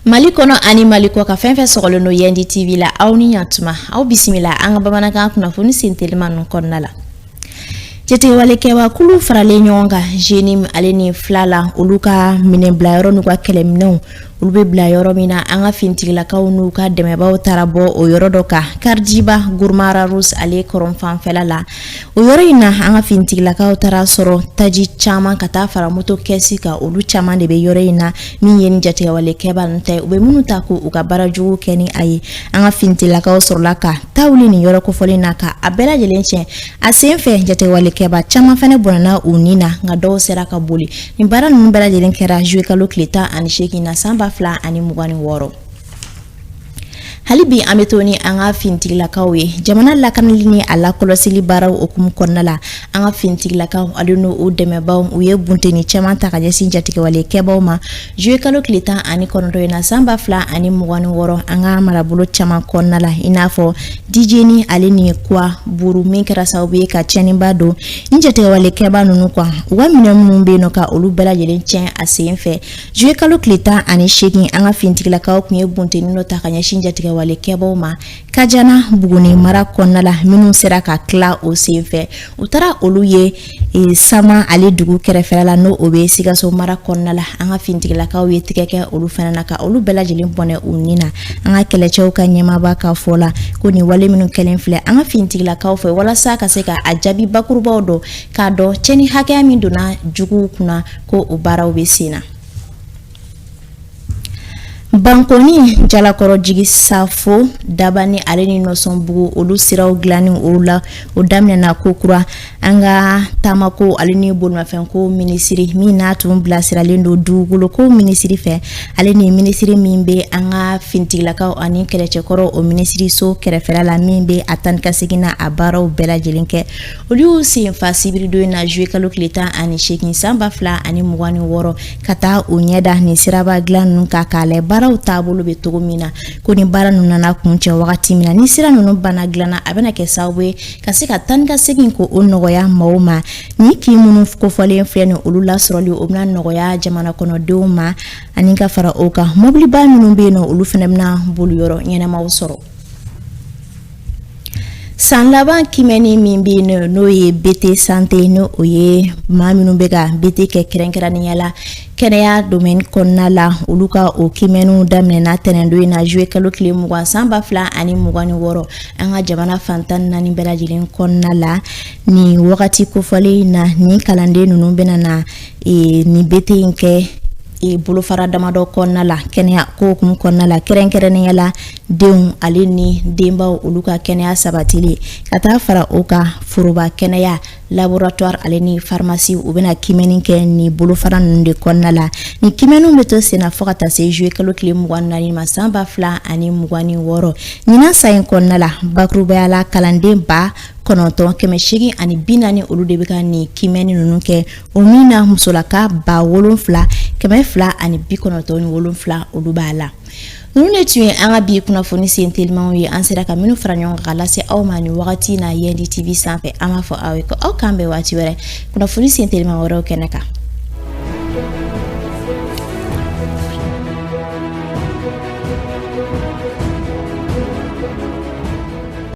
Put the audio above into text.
Mali kɔnɔ ani mali kɔkan fɛn fɛn sɔgɔlen don yandi TV la aw ni ɲatuma aw bisimila an ka bamanankan kunnafoni sen teliman ninnu kɔnɔna la jatigɛwalekɛba kulu faralen ɲɔgɔn kan JNIM ale ni FLA la olu ka minɛn bila yɔrɔ n'u ka kɛlɛminɛnw olu bɛ bila yɔrɔ min na an ka fintigilakaw n'u ka dɛmɛbaa taara bɔ o yɔrɔ dɔ kan karijiba Gurma Rarusi ale kɔrɔnfanfɛla la o yɔrɔ in na an ka fintigilakaw taara sɔrɔ taji caman ka taa fara moto kɛsi kan olu caman de bɛ yɔrɔ in na min ye nin jatigɛwalekɛba ninnu ta u bɛ minnu ta ko u ka baara jugu kɛ ni a ye an ka fintigilakaw sɔrɔla ka ta wuli nin yɔrɔ kofɔlen na ka a bɛɛ lajɛlen tiɲɛ A sen fɛ jatigɛwalekɛba caman fana bɔnna u ni na nka dɔw sera ka boli nin baara ninnu bɛɛ lajɛlen kɛra zuye kalo tile tan ani seegin na san ba fila ani mugan ni wɔɔrɔ hali bi an bɛ to ni an ka fintigilakaw ye jamana lakanali ni a lakɔlɔsili baaraw hukumu kɔnɔna la an ka fintigilakaw ale n'u dɛmɛbaa u ye bunteni caman ta ka ɲɛsin jatigɛwalekɛbaw ma Zuye kalo tile tan ani kɔnɔntɔn in na sanba fila ani mugan ni wɔɔrɔ an ka marabolo caman kɔnɔna la i n'a fɔ dijeni ale ni kuwa buru min kɛra sababu ye ka tiɲɛniba don nin jatigɛwalekɛba ninnu kan u ka minɛn minnu bɛ yen nɔ ka olu bɛɛ lajɛlen tiɲɛ a sen fɛ zuye kalo tile tan ani seegin an ka fintigilakaw tun ye bunteni dɔ ta ka ɲɛsin jatigɛwalekɛbaw ma Kajana Buguni mara kɔnɔna la minnu sera ka tila o senfɛ u taara olu ye Sama ale dugu kɛrɛfɛla la n'o bɛ Sikaso mara kɔnɔna la an ka finitigilakaw ye tɛgɛ kɛ olu fana na ka olu bɛɛ lajɛlen bɔnɛ u ni na an ka kɛlɛcɛw ka ɲɛmaaba ka fɔ la ko nin wale minnu kɛlen filɛ an ka finitigilakaw fɛ walasa ka se ka a jaabi bakurubaw dɔn k'a dɔn cɛnni hakɛya min donna juguw kunna ko o baaraw bɛ sen na. Bankɔni jalakɔrɔjigi safo Dabani ale ni Nɔsɔnbugu olu siraw dilanni o la o daminɛna kokura an ka taama ko ale ni bolimafɛn ko minisiri min n'a tun bilasiralen don dugukolo ko minisiri fɛ ale ni minisiri min bɛ an ka fintigilakaw ani kɛlɛcɛkɔrɔw minisiriso kɛrɛfɛ la min bɛ a taa ni ka segin na a baaraw bɛɛ lajɛlen kɛ olu y'u senfa sibiridon in na zuye kalo tile tan ani seegin sanba fila ani mugan ni wɔɔrɔ ka taa u ɲɛ da nin siraba dilan ninnu kan k'a lajɛ baaraw taabolo bɛ cogo min na ko nin baara ninnu nana kuncɛ wagati min na ni sira ninnu banna dilan na a bɛna kɛ sababu ye ka se ka taa ni ka segin ko o nɔgɔya maaw ma nin kin minnu kofɔlen filɛ nin olu lasɔrɔli o bɛna nɔgɔya jamana kɔnɔdenw ma ani ka fara o kan mɔbiliba minnu bɛ yen nɔ olu fana bɛna boli yɔrɔ ɲɛnamaw sɔrɔ san laban kimɛni min bɛ yen n'o ye bete sante n'o ye maa minnu bɛ ka bete kɛ kɛrɛnkɛrɛnnenya la kɛnɛya domɛni kɔnɔna la olu ka o kimɛniw daminɛna tɛnɛndon in na zuye kalo tile mugan san ba fila ani mugan ni wɔɔrɔ an ka jamana fan tan ni naani bɛɛ lajɛlen kɔnɔna la nin wagati kofɔlen na ni kalanden ninnu bɛna na nin bete in kɛ bolofara damadɔ kɔnɔna la kɛnɛya ko hukumu kɔnɔna la kɛrɛnkɛrɛnnenya la denw ale ni denbaw olu ka kɛnɛya sabatili ka taa fara o kan foroba kɛnɛya laboratuwari ale ni farimasi u bɛna kimɛni kɛ ni bolofara ninnu de kɔnɔna la ni kimɛniw bɛ to senna fo ka taa se zuye kalo tile mugan ni naani ma san ba fila ani mugan ni wɔɔrɔ ɲinan san in kɔnɔna la bakurubaya la kalanden ba kɔnɔntɔn kɛmɛ seegin ani bi naani olu de bɛ ka nin kimɛni ninnu kɛ o min na musolaka ba wolonfila kɛmɛ fila ani bi kɔnɔntɔn ni wolonfila olu b'a la Ninnu de tun ye an ka bi kunnafoni sen telimanw ye an sera ka minnu fara ɲɔgɔn kan ka lase aw ma ni wagati na yɛndi tv sanfɛ an b'a fɔ aw ye ko aw k'an bɛn waati wɛrɛ kunnafoni sen teliman wɛrɛw kɛnɛ kan